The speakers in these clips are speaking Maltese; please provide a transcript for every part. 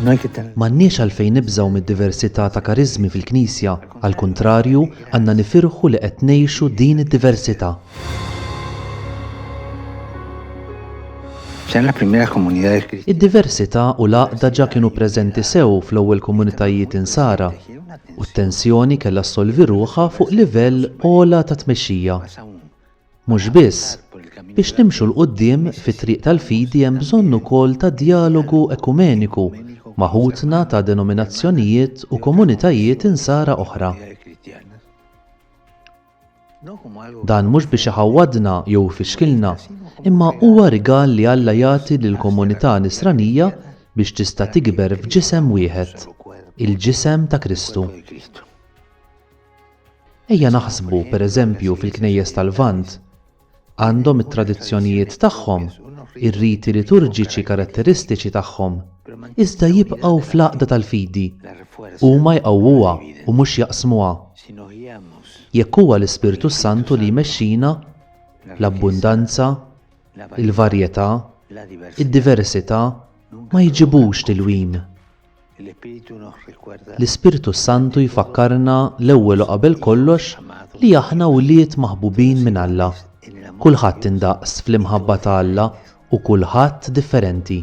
M'għandniex għalfejn nibżgħu mid-diversità ta' kariżmi fil-Knisja, għall-kuntrarju, għandna nifirħu li qed ngħixu din id-diversità. Id-diversità u l-għaqda ġa kienu preżenti sew fl-ewwel komunitajiet Insara, u t-tensjoni kellha ssolvi ruħha fuq livell ogħla ta' tmexxija. Mhux biss, biex nimxu 'l quddiem fit-triq tal-fidi hemm bżonn ukoll ta' djalogu ekumeniku ma' ħutna ta' denominazzjonijiet u komunitajiet Insara oħra. Dan mhux biex iħawwadna jew ifixkilna, imma huwa rigal li Alla jagħti lill-komunità Nisranija biex tista' tikber f'ġisem wieħed, il-ġisem ta' Kristu. Ejja naħsbu, pereżempju, fil-Knejjes tal-Lvant. Għandhom it-tradizzjonijiet tagħhom, ir-riti liturġiċi karatteristiċi tagħhom, iżda jibqgħu fl-għaqda tal-fidi. Huma jqawwuha u mhux jaqsmuha. Jekk huwa l-Ispirtu s-Santu li jmexxina, l-abbundanza, il-varjetà, id-diversità ma jġibux tilwim. L-Ispirtu s-Santu jfakkarna l-ewwel u qabel kollox li aħna wlied maħbubin minn Alla. Kulħadd indaqs fl-imħabba ta' Alla u kulħadd differenti.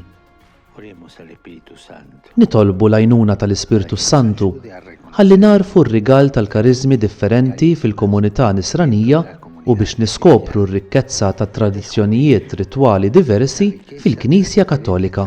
Nitolbu l-għajnuna tal-Ispirtu s-Santu ħalli nagħrfu r-rigal tal-kariżmi differenti fil-komunità Nisranija u biex niskopru r-rikkezza tat-tradizzjonijiet ritwali diversi fil-Knisja Kattolika.